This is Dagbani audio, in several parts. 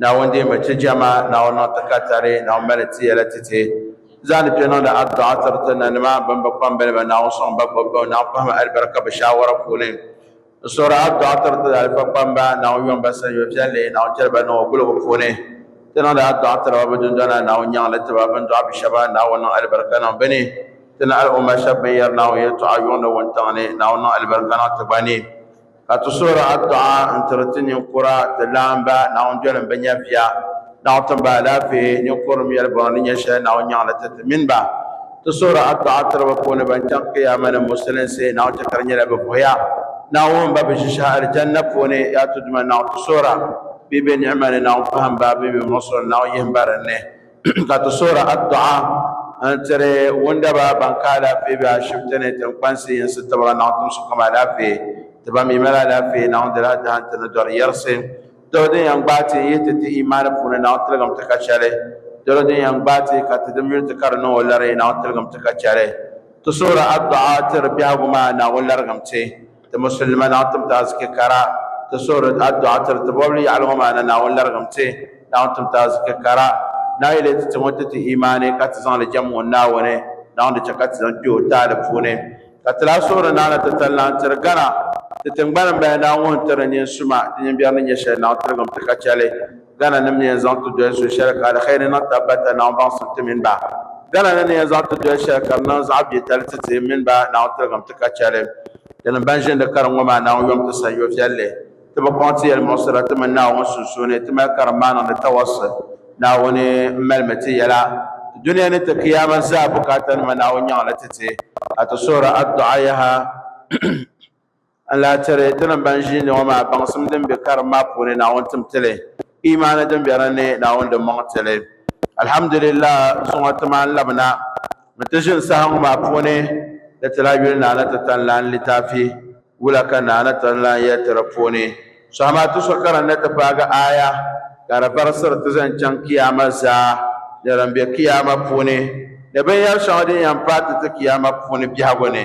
Naawuni deei ma chɛ jɛma, Naawuni niŋ ti ka tari, Naawuni mali ti yɛla ti ti. Zaani kpe niŋdi adduɣa tiri ti nanima bɛn bi kpambili ba, Naawuni sɔŋ ba gbubi ba, Naawuni pahimi alibarika bɛ shaawara puuni. N suhiri adduɣa tiri ti alifa kpamba, Naawuni yom ba sanyo viɛlli, Naawuni chɛli ba niŋɔ gulibu puuni. Ti niŋdi adduɣa tiri ba bɛ dundɔna, Naawuni nyaŋ li ti ba, bɛ ni dɔɣi bi shɛba, Naawuni niŋ alibarika niŋ bɛ ni. Ti ni al'umma shɛb bɛn yɛri Naawuni yɛltɔɣa yuŋdi wuntaŋ ni, Naawuni niŋ alibarika niŋ ti gba ni. Ka ti suhiri adduɣa n-tiri ti ninkura, ti laamba, Naawuni doli m-bi nyɛviya. Naawuni tim ba alaafee, ninkurim yɛlibɔŋɔ ni nyɛ shɛli Naawuni nyaŋ li ti ti mini ba. Ti suhiri adduɣa tiri bɛ puuni ban chaŋ Kiyaama ni Musulinsi, Naawuni chɛ ka di nyɛla bɛ vuhiya. Naawuni ba bɛ ʒishɛhi Alijanna puuni. Yaa Tuduuma Naawuni, ti suhira bee bɛ niɣima ni, Naawuni pahim ba bee bɛ muɣisiri ni, Naawuni yihim ba dinni. ka ti soori addu'a n tiri wundaba ban ka alaafee be ashibiti ni tinkpansi yinsi tibira naɣ tumsi kom alaafee ti ba mi mali alaafee naɣ dila dahin ti ni dɔri yɛrisi dolo din yɛn gbaai ti yihi ti ti imaani puuni naɣ tiligim ti ka chɛli dolo din yɛn gbaai ti ka ti dim yuli ti ka di niŋ o lari naɣ tiligim ti ka chɛli ti soori addu'a tiri biɛhigu maa Naawuni larigim ti Ti Musulima laɣiŋtim ti aziki kara, ti suhiri adduɣa tiri ti bɔbili yaɣili ŋɔ maa ni Naawuni larigim ti, laɣiŋtim ti aziki kara. Naa yɛli ti ti ŋɔ ti ti imaani ka ti zaŋ li jɛm ŋun Naawuni laɣim di chɛ ka ti zaŋ kpe o taali puuni. Ka ti lahi suhiri naa ni ti tali lahi tiri gana ti tiŋgbani m-bala Naa ŋun tiri nyin suma ti nyin biɛri ni nyɛ shɛli naɣiŋtirigim ti ka chɛ li. Gana ni mi yɛn zaŋ ti doli so shɛli ka aliheri niŋ taba ba ta naawuni baŋsim ti mini ba. Gana ni ni yɛn zaŋ ti doli shɛli ka di niŋ zaɣ biɛ tali ti ti mini ba naawuni tiligim ti ka chɛli. Di ni ban ʒindi karim ŋɔ maa naawuni yom ti sanyo viɛlli. Ti bi kɔŋ ti yɛlimuɣisira ti mini Naawuni sunsuuni. Ti mali karim maa niŋdi tawassul. Naawuni m-malimi ti yɛla ti dunia ni ti Kiyaama zaa bukaatanima Naawuni nyaŋ li ti ti ka ti suhiri adduɣa yaha. N lahi tiri tinim ban ʒiindi ŋɔ maa baŋsim din be karim maa puuni Naawuni tim ti li, iimaani din be din ni Naawuni di mɔŋ ti li. Alhamdulillaah, zuŋɔ ti maani labina mi ti ʒini saha ŋɔ maa puuni ni ti lahi yuli Naa ni ti tanlan litaafi wula ka Naa ni tanlan yɛli ti di puuni saha maa ti so karim ni ti paagi aaya ka di barisiri ti zaŋ chaŋ Kiyaama zaa ni din be Kiyaama puuni ni binyɛri shɛŋa din yɛn paai ti ti Kiyaama puuni biɛhigu ni.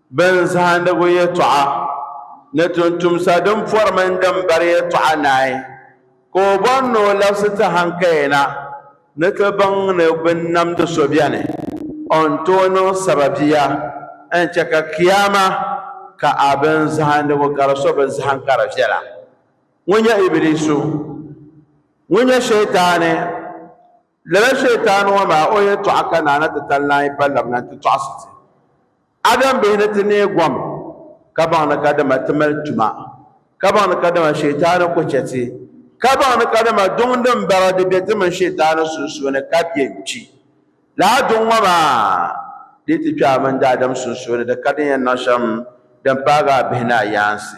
Bɛn zahindigu yɛtɔɣa ni tuntumsa din pɔri mini din bari yɛtɔɣa naai, ka o bɔri ni o labisi ti hankayina ni ti baŋ ni binnamdi so beni o ni tooi niŋ sababiya n-chɛ ka Kiyaama ka a bɛn zahindigu gari so bɛ zahim ka di viɛla. Ŋun nyɛ Ibiliisu? Ŋun nyɛ Shɛtaani? Lala Shɛytaani ŋɔ maa o yɛltɔɣa ka Naana ti tan lan yi pa labina nti tɔɣisi ti, Adam bihi, ni ti neei gom kabaŋ ni kadama ti mali tuma, kabaŋ ni kadama Shɛytaani ku chɛ ti, kabaŋ ni kadama duŋ din bara di be ti mini Shɛytaani sunsuuni ka bɛ n-kpi. Lala duŋ ŋɔ maa dii ti kpe a mini daadam sunsuuni di ka din yɛn niŋ shɛm din paagi a bihi ni a yaansi.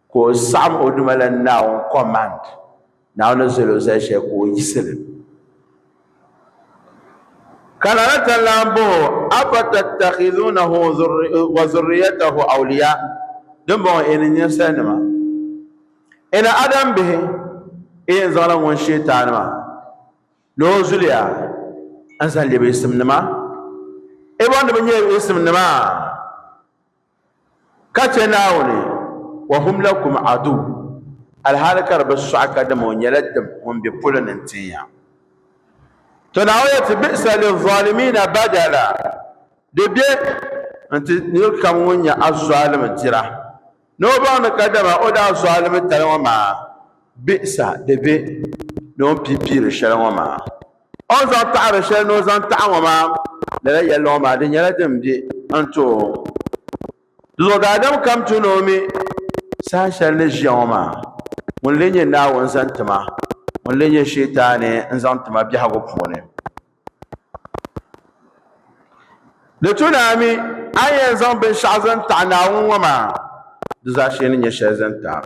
Ka o saɣim o duma la Naawuni command. Naawuni ni zali o zali shɛli ka o yiɣisi li. Ka Lala ta lahi bɔh o, Afatattakhizunahu wa zurriyatahu awliya? Dimbɔŋɔ yi ni ninsalinima, yi ni Adam bihi, yi yɛn zaŋla ŋun Shɛtaani maa ni o zuliya n-zaŋ lɛbi yiɣisimnima? Yi bɔŋ ni bɛ nyɛla yiɣisimnima? Ka chɛ Naawuni, wa hum lakum aduw, alhaali ka di bi sɔɣi ka dama o nyɛla dim ŋun be polo ni n-tin ya. To Naawuni yɛlsi, Bi'sa lizzalimiina badala, di be n-ti nir kam ŋun nyɛ azɔlim dira ni o baŋ ni ka dama o daa zɔlimi tali ŋɔ maa, bi'sa di be ni o ni pii piiri shɛli ŋɔ maa. O ni zaŋ taɣiri shɛli ni o zaŋ taɣi ŋɔ maa, lala yɛlimaŋɔ maa di nyɛla din be n-ti o. Di zuɣu daadam kam ti ni o mi saha shɛli ni ʒiya ŋɔ maa, ŋun leei nyɛ Naawuni zaŋ ti ma, ŋun leei nyɛ Shɛtaani n-zaŋ ti ma biɛhigu puuni. Di tu ni a mi a ni yɛn zaŋ binshɛɣu zaŋ taɣi Naawuni ŋɔ maa, di zaashee ni nyɛ shɛli zaŋ taɣi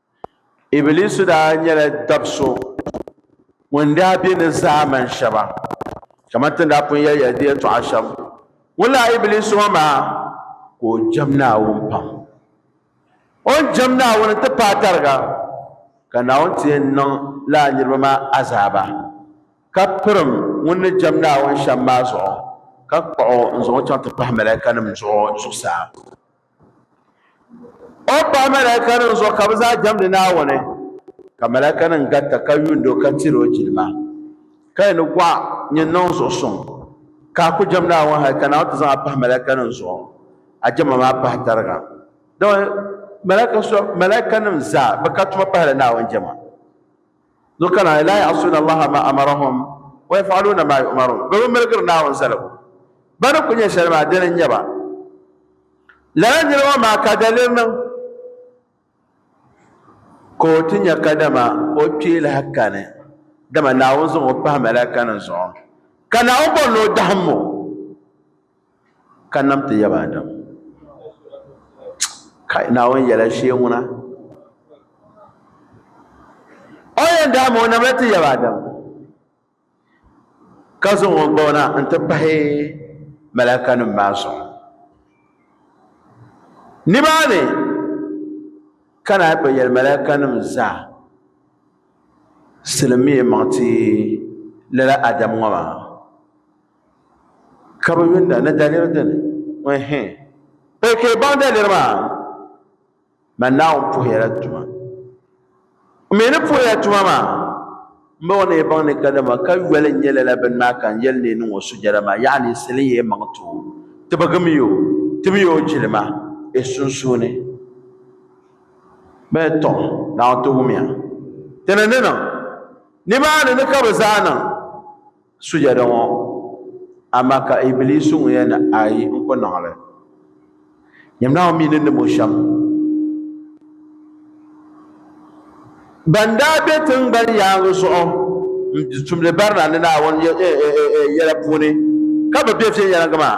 Ibiliisu daa nyɛla dab so ŋun daa be ni zaa man shɛba, kamani ti ni daa pun yɛliya di yɛtɔɣa shɛm. Ŋunlaa Ibiliisu ŋɔ maa ka o jɛm Naawuni pam. O ni jɛm Naawuni nti paai tariga ka Naawuni ti yɛn niŋ lala niriba maa azaaba, ka pirim ŋun ni jɛm Naawuni shɛm maa zuɣu, ka kpuɣ o n-zaŋ o chaŋ ti pahi malaikanim zuɣu zuɣusaa. O pahi malaaikanim zuɣu ka bɛ zaa jɛmdi Naawuni, ka malaaikanim garita ka yuuni o ka tiri o jilima. Ka yi ni gɔɣi nyin niŋ zuɣu suŋ, ka a ku jɛm Naawuni hal ka Naawuni ti zaŋ a pahi malaaikanim zuɣu, a jɛma maa pahi tariga. Dama malaaikanim zaa bɛ ka tuma pahila Naawuni jɛma. Zuɣu kana ay laa yaɣisuuna Allaha ma amarahum wa yaf'aluuna maa yu'maruun bɛ bi miligiri Naawuni zaligu bɛ ni kul nya shɛli maa dini n-nyɛ ba lala nir ŋɔ maa ka daliri niŋ ka o ti nya kadama o kpee lahi kani dama Naawuni zaŋ o pahi malaikanim zuɣu ka Naawuni bɔri ni o dahim o ka nam ti yaba Adam kai naawuni yɛla shee ŋuna o yɛn daa ma o namla ti yaba Adam ka zaŋ o gbaw na n ti pahi malaka nim maa zuɣu nimaani ka naa kpɛ yɛli malaka nim zaa silim mi maŋ ti lala Adam ŋɔ maa ka bi yuunda ni daliri dini ɛhɛ pa ka baŋ daliri maa man naawuni puhiya la tuma mi ni puhiya tuma maa n bɔŋɔ ni baŋ ni ka dama ka yoli n nyɛla la bini maa ka n yɛli ni niŋɔ sujada maa yaɣa ni sili yɛ maŋ too tibigi mi o tibi yɛ o jilima e sunsuuni bee tɔ naawuni ti wumiya ti ni ni niŋ nimaani ni ka bi zaa niŋ sujada ŋɔ amaa ka Ibiliisu ŋun yɛn ni ayi n-ku niŋ li. Nyini Naawuni mi ni nim o shɛm. Ban daa be tiŋgbani yaaŋa zuɣu n-tumdi barina ni Naawuni yɛla puuni ka bɛ be viɛnyɛliŋga maa,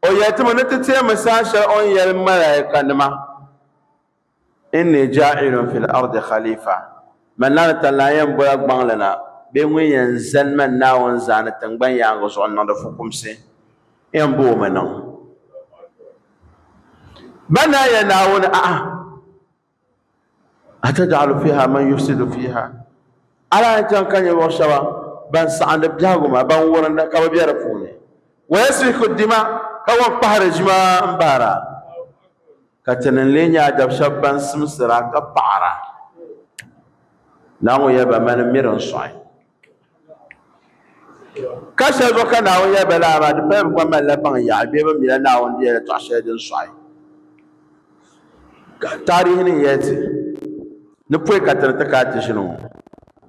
O yɛlitimi ni ti teemi saha shɛli o ni yɛli malaayikanima, Inni jaa'ilun fil ardi khalifa, Mani na ni ta lan yɛn bɔla gbaŋli na bee ŋun yɛn zani mani Naawuni zaani tiŋgbani yaaŋa zuɣu n-niŋdi fukumsi, n yɛn bo o mi niŋ ba ni a yɛli Naawuni, A'a! Ataj'alu fiha man yufsidu fiha Ala ni chaŋ ka ninvuɣu shɛba ban saɣindi biɛhigu maa, ban wurinda ka bi be di puuni, wa yasfiku dima ka wan kpahiri ʒima m-bahira, ka Ti ni n-lee nya a dab shɛba ban simsira ka paɣira. Naawuni yɛli ba, Mani m-miri n sɔɣi. Ka shɛli bɛ ka Naawuni yɛli ba lala maa, di paya bɛ gba malila baŋ yaɣi bee bɛ mila Naawuni ni yɛli tɔɣ shɛli din sɔɣi. Ka taarihi ni yɛli ti ni pɔi ka ti ni ti kana ti ʒini ŋɔ,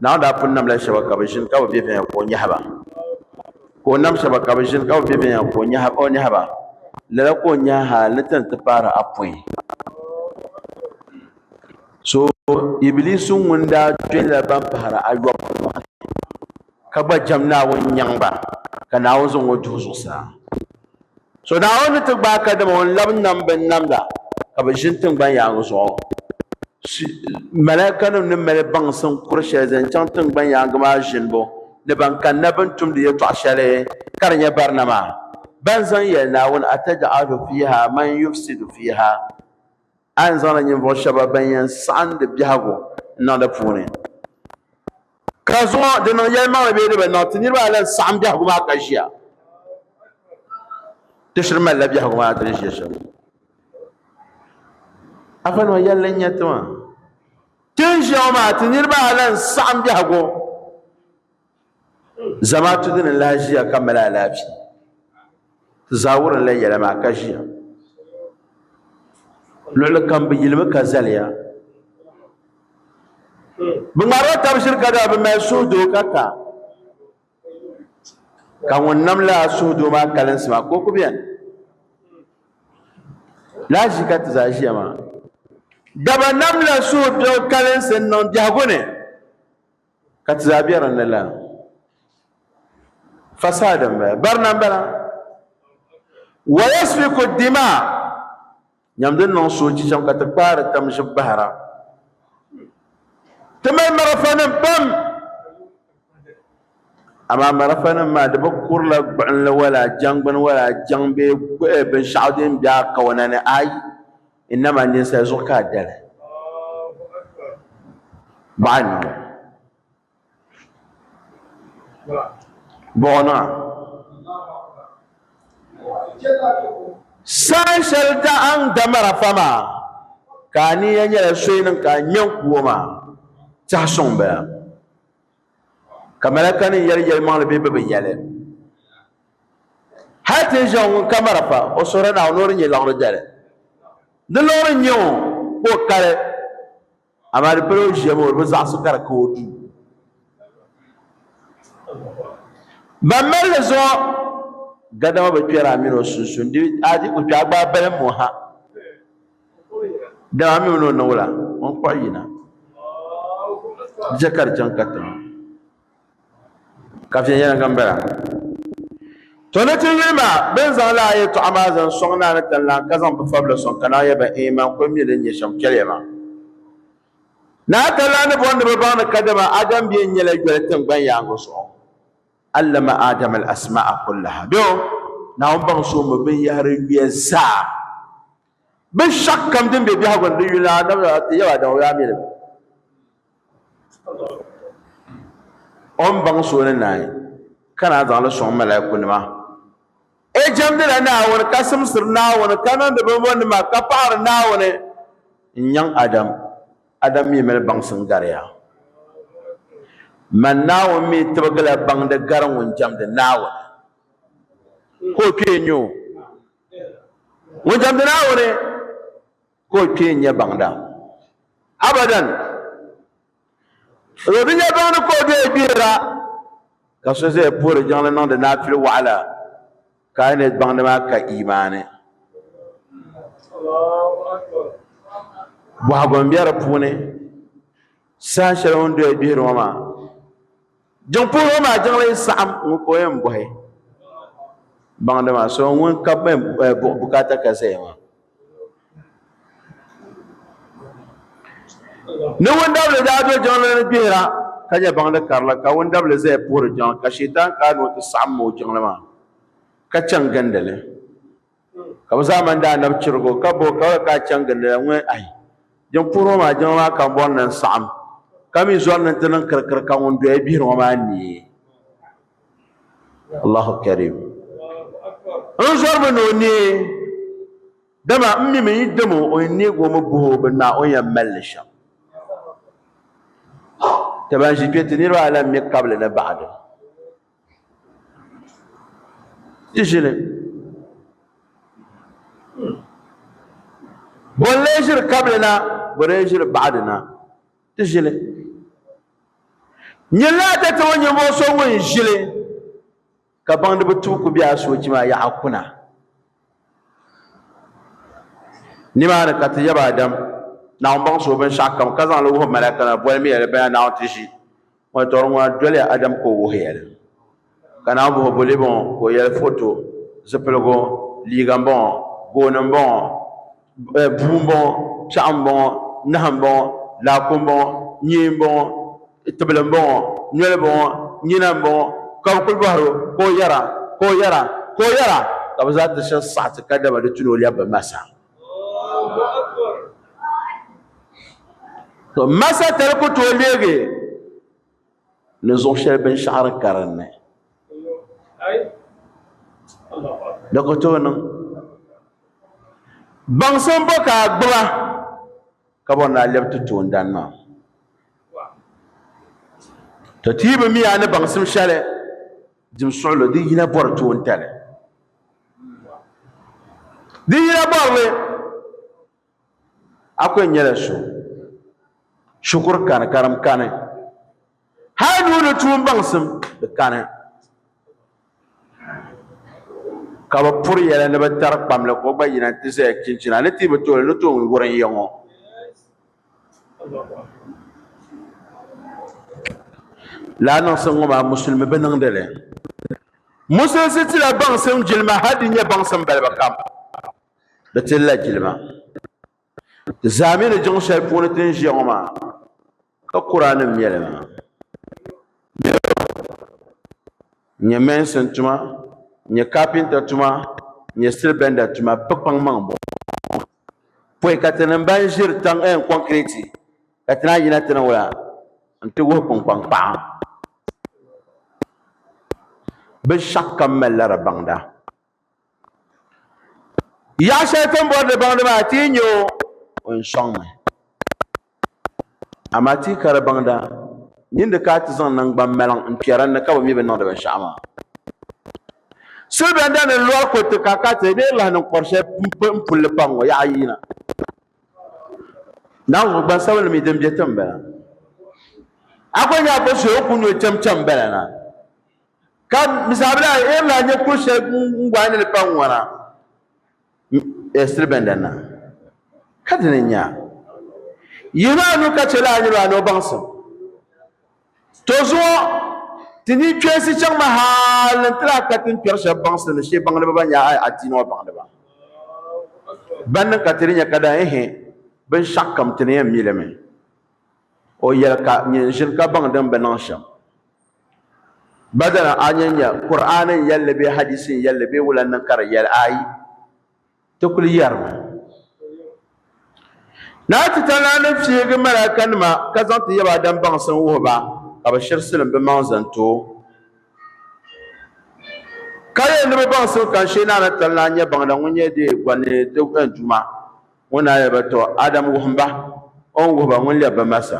Naawuni daa pun namla shɛba ka bɛ ʒini ka bi be viɛnya ka o nyɛhi ba, ka o nam shɛba ka bɛ ʒini ka bi be viɛnya ka o nyɛhi ba, lala ka o nyɛhi hal ni ti ni ti paari apɔin. So Ibilisu ŋun daa kpɛhila ban pahiri ayɔbu ŋɔ ni, ka gba jɛm Naawuni nyaŋ ba, ka Naawuni zaŋ o duhi zuɣusaa. So Naawuni ni ti gbaai kadama o ni labi nam bɛn nam la, ka bɛ ʒini tiŋgban yaaŋa zuɣu. So Malaaikanim ni mali baŋsim kur shɛli zaŋ chaŋ tiŋgban yaaŋa maa ʒinibu ni ban kanna bɛ ni tumdi yɛtɔɣ shɛli ka di nyɛ barina maa, bɛn zaŋ yɛli Naawuni, Ataj'alu fiiha man yufsidu fiiha. A yɛn zaŋla ninvuɣ shɛba bɛn yɛn saɣim di biɛhigu n-niŋ di puuni. Ka zuŋɔ di niŋ yɛlimaŋli bee di bi niŋ, ti niriba ayi lan saɣim biɛhigu maa ka ʒiya. Ti shiri malila biɛhigu maa ti ni ʒiya shɛm. Afanima yɛlli n-nyɛ ti maa. Ti ni ʒiya ŋɔ maa, ti niriba ayi lan saɣim biɛhigu. Zamaatu dini n lahi ʒiya ka mali alaafee ti zaa wurimla yɛla maa ka ʒiya luɣuli kam bi yilimi ka zaliya bi ŋmaarila tabi ʒili ka daa bi mali suhudoo ka ta ka ŋun nam laa suhudoo maa kalinsi maa ka o ku biɛni lahi ʒi ka ti zaa ʒiya maa daba namla suhupiɛɣu kalinsi n niŋ biɛhagu ni ka ti zaa be din ni la fasaada n bala barina n bala wa yasfiku dima nyam din niŋ soochi cham ka ti kpaari tam ʒib bahira ti mali marafanim pam amaa marafanim maa di bi kurila gbuɣinli wala jaŋgbini wala jaŋ bee eh, binshɛɣu din be a kawana ni ayi innama ninsal zuɣu ka a dali baɣa ni ŋɔ bɔɣina saha shɛli daɣaŋ damara fa maa ka a niya nyɛla soyi niŋ ka a nya n kuwo maa tiɛhi suŋ bala ka malaka nim yɛli yɛlimaŋli bee bɛ bi yɛli hali ti ʒiɛɣu ŋun ka marafa o suhuri Naawuni o di nyɛ laɣiri dali di luɣiri nyɛ o ka o kali amaa di pala o ʒiɛm o di bi zaɣisi ka di ka o duu ban mali li zuɣu gadama bi kpɛri a mini o sunsun di a di ku kpɛ a gbaai balim mo ha Dama mi o ni o niŋ o la, o ni kpuɣi yina dicha ka di chaŋ katiŋa. Ka viɛnyɛliŋga m-bala. To ni ti yuli maa, bɛ ni zaŋ lala yɛtɔɣa maa zaŋ sɔŋ Naa ni Tinlan ka zaŋ bɛ fabila sɔŋ ka Naawuni yɛli ba, Eei man kul mi din nyɛ shɛm chɛliya maa. Naa Tinlan ni bɔri ni bɛ baŋ ni kadama Adam bia n-nyɛ la yoli tiŋgbani yaaŋa zuɣu. Allama Adam al-asma'a kullaha. Bɛ o, Naawuni baŋ so mi binyɛhiri yuya zaa. Binshɛɣu kam din be biɛhigu ni di yuli ni Annabi maa ti yɛl a dama o daa mi li mi. O ni baŋ so ni naai ka naan zaŋ li sɔŋ malaikunima. O jɛmdila Naawuni ka simsiri Naawuni ka niŋdi bimbɔnnima ka paɣiri Naawuni n-nyaŋ Adam. Adam mi mali baŋsim gariya. Man Naawuni mi tibigila baŋdi gari ŋun jɛmdi Naawuni ka o kpee nya o. ŋun jamdi naawuni ka o kpee nyɛ baŋda abadan o bi nyɛ baŋdi ka o bee gbihira ka so zaya puhiri jiŋli niŋdi naafili waɣala ka a ni baŋdi maa ka imaani bɔhagu n bɛ di puuni saha shɛli o ni doya gbihiri ŋɔ maa Jiŋpuhiriba maa jiŋli saɣim ŋun ka o yɛn bɔhi baŋda maa so ŋun ka bi yɛn eh, buɣi bukaata ka zaya maa ni wundabili daa do jiŋli ni gbihira ka nyɛ baŋda karili ka wundabili zaya puhiri jiŋli ka shɛtan kaani o ti saɣim ma o jiŋli maa ka chaŋ gindi li Ka bɛ zaa mani daa nabi chirig o, ka bo ka ka a chaŋ gindi la ŋun ahi jin puhiri ŋɔ maa jɛma maa kambɔri ni n-saɣim, ka mi zɔri ni nti niŋ kirikiri ka ŋun doya gbihiri ŋɔ maa neei. Allahu Karim. N zɔrimi ni o neei, dama m mi mi yi dam o, o yɛn neeg o mi buhi o bini maa, o ni yɛn mali li shɛm. Ti ban ʒi kpe ti niriba ayi la mi kabili ni baɣidi. ʒili bɔ n-lee ʒiri kabili na bɔ n-lee ʒiri baɣadi na ti ʒili nyilla dati ŋɔ nyinvuɣ so ŋun ʒili ka baŋdiba tuhi ku be a soochi maa yaɣa kuna Nimaani ka ti yab Adam, Naawuni baŋsi o binshɛɣu kam ka zaŋ li wuhi malaika nima boli miya li bana Naawuni ti ʒi ŋɔ tɔri ŋɔ na doliya Adam ka o wuhiya li. Ka Naawuni bohi o boli bɔŋɔ ka o yɛli foto, zipiligu, liiga m-bɔŋɔ, gooni m-bɔŋɔ. eh, buu m-bɔŋɔ piɛɣu m-bɔŋɔ nahu m-bɔŋɔ laaku m-bɔŋɔ nyee m-bɔŋɔ tibili m-bɔŋɔ noli m-bɔŋɔ nyina m-bɔŋɔ ka bɛ kuli bɔhiri o ka o yɛra ka o yɛra ka o yɛra ka bɛ zaa ti shɛb saɣiti ka dama di tuni o lɛbi bi masa to masa tali ku tooi leegi ni zuɣu shɛli binshɛɣu di ka dinni di ku tooi niŋ baŋsim bo ka a gbuba ka bɔri ni a lɛbi ti toondana maa to ti yi bi mi a ni baŋsim shɛli dim suɣulo di yina bɔri toontali di yina bɔri li Akwe nyɛla so shikuru kani ka dim kani hali nuu ni tuun baŋsim di kani ka bi puri yɛla ni bi tari kpamli ka o gba yina ti zaya chinchina ni ti bi tooli ni toon wurin ya ŋɔ laa niŋsim ŋɔ maa musulmi bi niŋdi li musulisi tila baŋsim jilima hali di nyɛ baŋsim balibu kam Di tilila jilima. Di zaa mi ni jiŋ shɛli puuni ti ni ʒiya ŋɔ maa, ka Kuraanim nyɛli maa. N-nyɛ mɛnsin tuma, n-nyɛ kapinta tuma, n-nyɛ stilibɛnda tuma, bɛ kpaŋmaŋ m-bɔŋɔ. Pɔi ka ti ni mba ni ʒiri taŋ ɛɛn kɔŋkireti, ka ti naan yina ti ni wula nti wuhi kpunkpaŋ paɣa. Binshɛɣukam malila di baŋda. Yaɣa shɛli ti ni bɔri di baŋdi maa ti yi nyɛ o o ni sɔŋmi amaa ti yi ka di baŋda nyin di ka a ti zaŋ naŋgbaŋ maliŋ n kpɛri n ni ka bi mi bi niŋdi binshaɣu maa silibɛnda ni lɔri kuriti ka ka ti bee lahi niŋ kɔri shɛli n pulli paŋ ŋɔ yaɣa yina naawuni gbansabinli mi din bɛ ti n bala a ko nyɛ a ko so o ku nyɛ o chɛm chɛm bala na ka misaabila a yɛn lahi nyɛ kuli shɛli ŋun gɔhi ni li pa ŋwana ɛsiri bɛn danna ka dini n nya yihi maa nu ka chɛ laa niriba a ni o baŋsim to zuɣu ti ni kpɛnsi chaŋ ma haali n ti lahi ka tin kpɛri shɛba baŋsim ni shee baŋdiba ban nyɛ a adiini ŋɔ baŋdiba ban niŋ ka ti di nyɛ ka daa ehe binshɛɣu kam ti ni yɛn mi li mi o yɛli ka nyini ʒini ka baŋ din bi niŋ shɛm Badana a ni nya Kur'aani n yɛlli bee hadiisi n yɛlli bee wula niŋ ka di yɛli ayi, ti kuli yɛrimi. Naa Titali ni fiigi malaikanima ka zaŋ ti yaba Adam baŋsim wuhi ba, ka bɛ shiri silim bɛ maŋ zani ti o. Ka yɛli ni bɛ baŋsim ka n shee Naa Titali ni a nya Baŋda ŋun nyɛ deei gɔni ni di Duuma ŋɔ ni a yɛli ba, Tɔ! Adam wuhim ba o ni wuhi ba ŋun lɛbi ba malisa.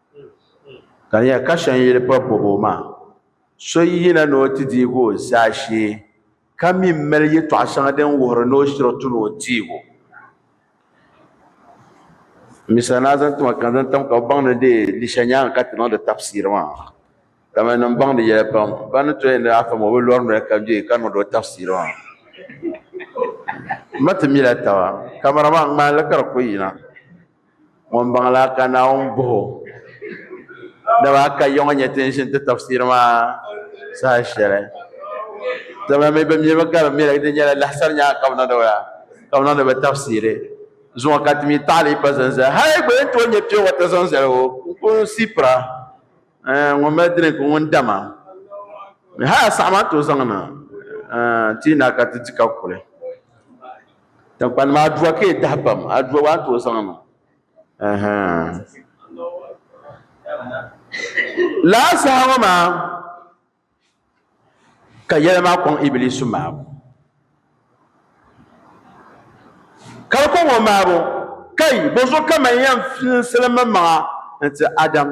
ka di nyɛla ka shɛŋ yili pa bobo maa so yina ni o ti deegi o zaashee ka mii mali yɛltɔɣa shɛŋa din wuhuri ni o shiri ti ni o deego n mi sani a zaŋ ti ma ka n zaŋ tam ka bi baŋdi deei Lisha nyaanga ka ti niŋdi tafsir maa dama nim baŋdi yɛli pam ba ni tooi yɛn niŋ afa maa o bi lori noli ka bɛ ka niŋdi o tafsir maa n ma ti mila taba kamɛra maa ŋmaanli ka di ku yina ŋun baŋ la ka Naawuni bɔh o. Dama a ka yiŋa nyɛ ti ni ʒini ti tafsiri maa saha shɛli. Dama mi bi mimi ka di mi di nyɛla lahisari nyaŋa ka bi niŋdi ba ka bi niŋdi ba tafsiri zuŋɔ ka ti mi taɣili pa zan zali hali gba yɛn tooi nyɛ piɛ wata zaŋ zali o n ku si pira ŋun mali drink ŋun dama hali a saɣama n tooi zaŋ na ti yi naai ka ti di ka kuli. Tiŋkpani maa aduwa ka yi dahi pam aduwa waa n tooi zaŋ niŋ laa saha ŋɔ maa ka yɛli maa kɔŋ ibilisu maabu ka di kɔŋ o maabu kai bɔzo ka man yɛn filisili mi maŋa n ti adam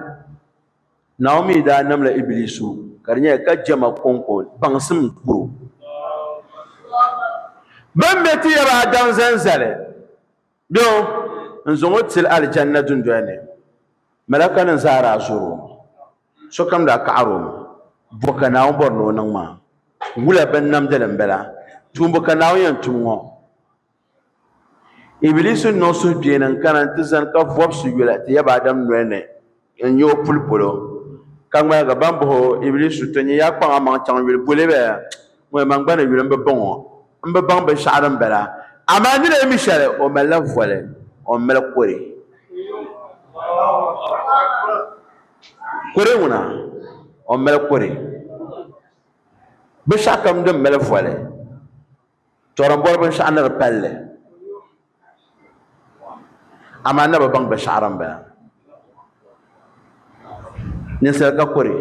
Naomi daa namla Ibilisu ka di nyɛla ka jɛma kɔŋko baŋsim kuro. Bɛ ni be ti yɛba Adam zani zali bɛ o n-zaŋ o tili Alijanna dundoli ni, malakanim zaa daa zɔr o mi. Sokam daa kaɣir o mi, Bɔ ka Naawuni bɔri ni o niŋ maa? Wula binnamdili m-bala? Tuumbu ka Naawuni yɛn tum ŋɔ? Ibilisi n niŋ suhupiɛlli n kana n ti zani ka vobisi yuli ti yaba Adam nolini n nyɛ o puli polo ka ŋmaligi ban bahi o Ibilisi to nyɛ yaa kpaŋ a maŋ chaŋ yuli boli bɛ ŋun man gbana yuli n bi baŋɔ n bi baŋ binshɛɣu din bala amaa ni lee mi shɛli o malila voli o ni mali kɔre kɔre ŋuna o ni mali kɔre binshɛɣu kam din mali voli To din bɔri binshɛɣu ni di palli, amaa na bi baŋ binshɛɣu din bala. Ninsal ka kuri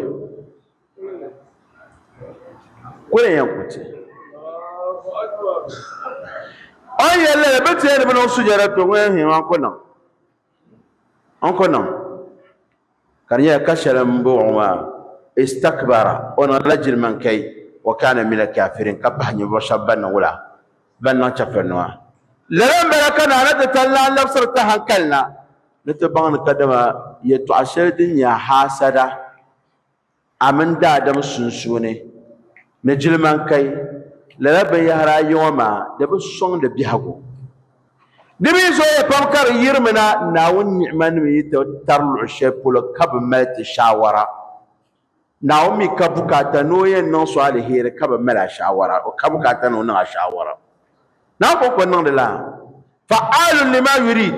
ku ni yɛn ku ti. O ni yɛli lala, bɛ ti yɛn di bi niŋ sujada, to ŋun yɛn hiɛ maa ku niŋ. N ko niŋ ka di nyɛla ka shɛli n bɔŋɔ maa istakbara o niŋla jilman kai wa kana mina kafirin ka pahi ninvuɣu shɛba ban niŋ wula ban niŋ chɛfurinima lala n bala ka Naana ti tali lan labisiri ti hankali na ni ti baŋ ni kadama yɛtɔɣ shɛli din nyɛ haasada a mini daadam sunsuuni ni jilimankai, lala binyɛhiri ayi ŋɔ maa di bi sɔŋdi biɛhigu. Di mi zooya pam ka di yirimi na Naawuni ni'imanim yi ti tari luɣ shɛli polo ka bi mali ti shaawara. Naawuni mi ka bukaata ni o yɛn niŋ so aliheri ka bi mali a shaawara, o ka bukaata ni o niŋ a shaawara. Naawuni kɔŋko niŋdila fa'aalun lima yurid.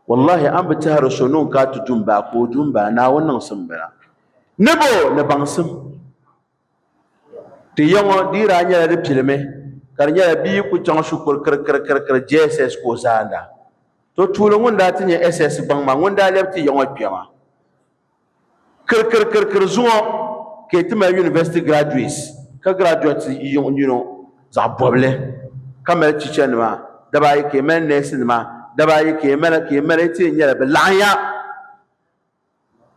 Wallahi a ni bi tɛhiri so ni o ka ti dum baa ka o dum baa, Naawuni niŋsim bala ni bɛ o ni baŋsim. Ti ya ŋɔ di yi daa nyɛla di pilimi ka di nyɛla bia yi ku chaŋ shikuru kirikirikiri JSS ka o zaanda. To tuuli ŋun daa ti nyɛ SS gbaŋ maa ŋun daa lɛbi ti ya ŋɔ kpɛma. Kirikirikirikiri zuŋɔ ka yi ti mali university graduates ka graduate yiŋ nino zaɣ bɔbili ka mali teacher nima daba ayi ka yi mali nurse nima daba ayi ka yi mali ka yi mali yi ti yɛn nyɛla bi laɣinya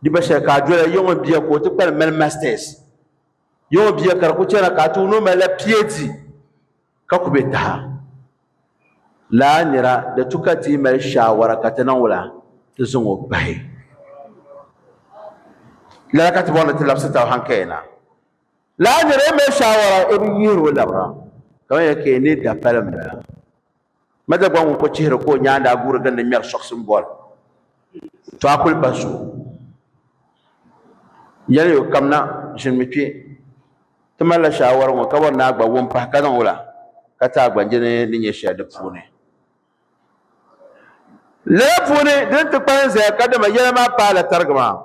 di gba shɛli ka a dola yiŋ n bia ka o ti kpalim mali masters yiŋ bia ka di ku chana ka a ti wuni o malila PhD Ka ku be taha laa nira di tu ka ti yi mali shaawara ka ti niŋ wula ti zaŋ o pahi lala ka ti bɔri ni ti labisi taba hankaya na laa nira yi mali shaawara o bi yihiri o labira ka man yɛli ka yi ni da pali m bala Madagua ŋun ko chihiri ka o nyaa daa guuri gindi ŋmɛri sɔɣisim bɔl Tɔa Kulipa zuɣu yɛli yo kam na ʒinimi kpe ti malila shaawari ŋɔ ka bɔri ni a gba wum pahi ka niŋ la ka ti a gba je ni ni nyɛ shɛli di puuni. Lala puuni din ti kpalim zaya kadama yɛla maa paai la tarigi maa.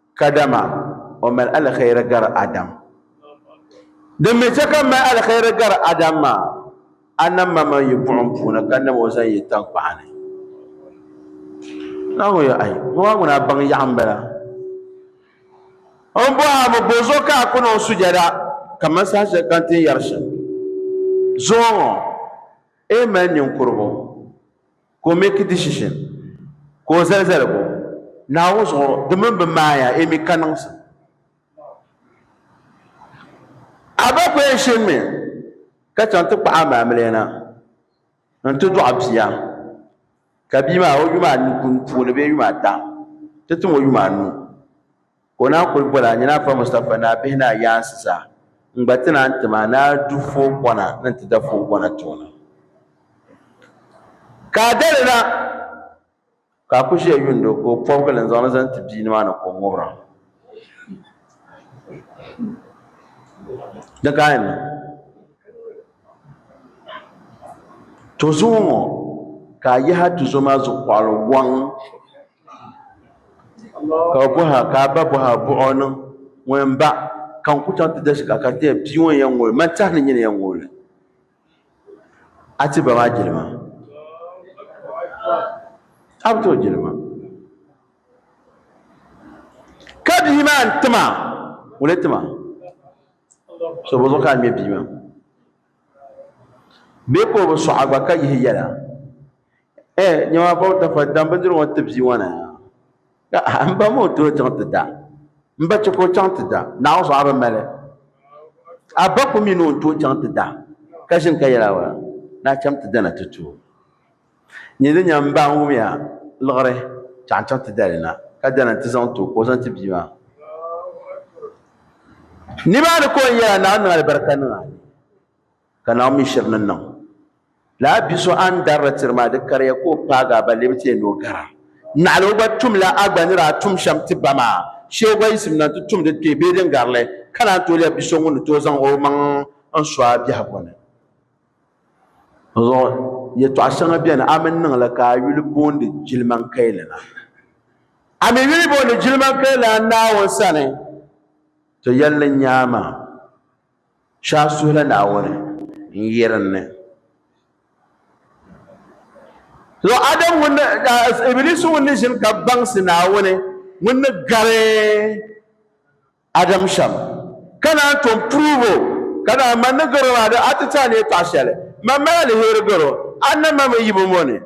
Kadama o mali alheri gari Adam. Din mi chɛ ka m mali alheri gari Adam maa, a nam ma man yi buɣim puuni ka nam o zaŋ yi taŋkpaɣu ni. Naawuni yɛl, Ai, ŋɔ maa ŋuna baŋ yaɣu m-bala. M bɔhi a mi bɔzuɣu ka a ku niŋ sujada kaman saha shɛli ka n ti yɛri shɛm zuɣu ŋɔ? Eei mali ninkurigu! Ka o make decision, ka o zali zaligu Naawuni zuɣu di mini bɛ maaya emi ka niŋsim. A ba ku yɛn shinimi ka chaŋ ti kpaɣi a ma Amilɛna nti dɔɣi bia, ka bia maa o yuma anu puuni bee yuma ata ti tim o yuma anu. Ka o naan kuli boli a nyina Afa Mustapha ni a bihi ni a yaansi zaa n-gba ti naan tim a ni a du foogɔna ni n-ti da foogɔna ti o na. Ka a dali na ka a ku ʒiya yundi o ka o pɔbigi li n-zaŋ li zaŋ ti bia ni maa ni ka o ŋubira. Di ka a yɛn niŋ. To zuɣu ŋɔ ka a yahi a tuzo maa zuɣukɔɣili wɔŋ. Ka o bɔhi a, Ka a ba bɔhi a buɣi o niŋ ŋuni m-baɣ ka n ku chaŋ ti dashig a ka tɛhi bia ŋɔ ni yɛn ŋ-ol ma tɛhi ni nyini yɛn ŋ-ol li a ti ba maa jilima? A bi ti o jilima. Ka bia maa n-ti ma, ŋuni n-ti ma? So bɔzuɣu ka a ŋme bia maa? Bee ka o bi sɔɣ a gba ka yihi yɛla, Ɛ, nya maa bɔbu tafa, dam bindirigu ŋɔ ti bia ŋɔ na! Ka a m ba maa o tooi chaŋ ti da? M ba chɛ ka o chaŋ ti da? Naawuni sɔɣ a bi mali? A ba ku mi ni o ni tooi chaŋ ti da, ka ʒini ka yɛl a, Naa cham ti dana ti ti o. Nyɛ din nya m-ba n-wumya liɣiri chaŋ n-chaŋ ti dali na, ka dana nti zaŋ ti o ka o zaŋ ti bia maa. Nimaani ka o ni yɛra, Naawuni niŋ alibarika niŋ a ni, ka Naawuni mi shiri ni niŋ. Lala bi so a ni darili tiri maa, di kariya ka o paagi a ba lebi ti ya ni o gara. Naɣila o gba tumla a gba ni daa tum shɛm ti ba maa, shee o gba yiɣisim na nti tumdi kpee bee din garili, ka naan tooi lɛbi bi so ŋun ni tooi zaŋ omaŋ n-so a biɛhigu ni. Dinzuɣu yɛtɔɣ shɛŋa beni a mini niŋ li ka a yuli boondi jilimankayilina. A mi yuli boondi jilimankayilina Naawuni sani, ti yɛli ni nyaa maa, Shɛ a suhi la Naawuni n-yirin ni. Dinzuɣu Adam ŋun ni, Ibilisu ŋun ni ʒini ka baŋsi Naawuni ŋun ni gari. Adam shɛm, ka naan tom prove o, ka naan ma ni garo maa di ati ti a ni yi paɣi shɛli, ma mali aliheri garo, a nam ma mini yibu ŋɔ ni.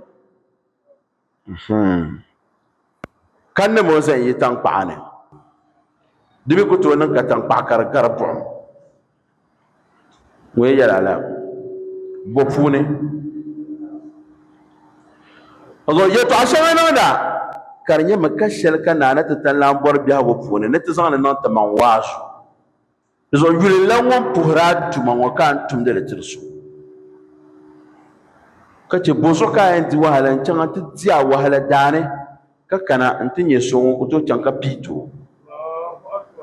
Ka nam o zan yi tankpaɣu ni, di mi ku tooi niŋ ka tankpaɣu ka di gari buɣim. Ŋun yɛn yɛli ala bo puuni o zaŋ yɛtɔɣa shɛŋa niŋda ka di nyɛmi ka shɛli ka naa ni ti tan lan bɔri biɛhigu puuni ni ti zaŋli niŋ timaŋ waasu di zuɣu yulilla ŋun puhiri a tuma ŋɔ ka a ni tumdi li tiri so ka chɛ bonso ka a yɛn di wahala n chaŋ n ti di a wahala daani ka kana n ti nyɛ so ŋun ku tooi chaŋ ka pii ti o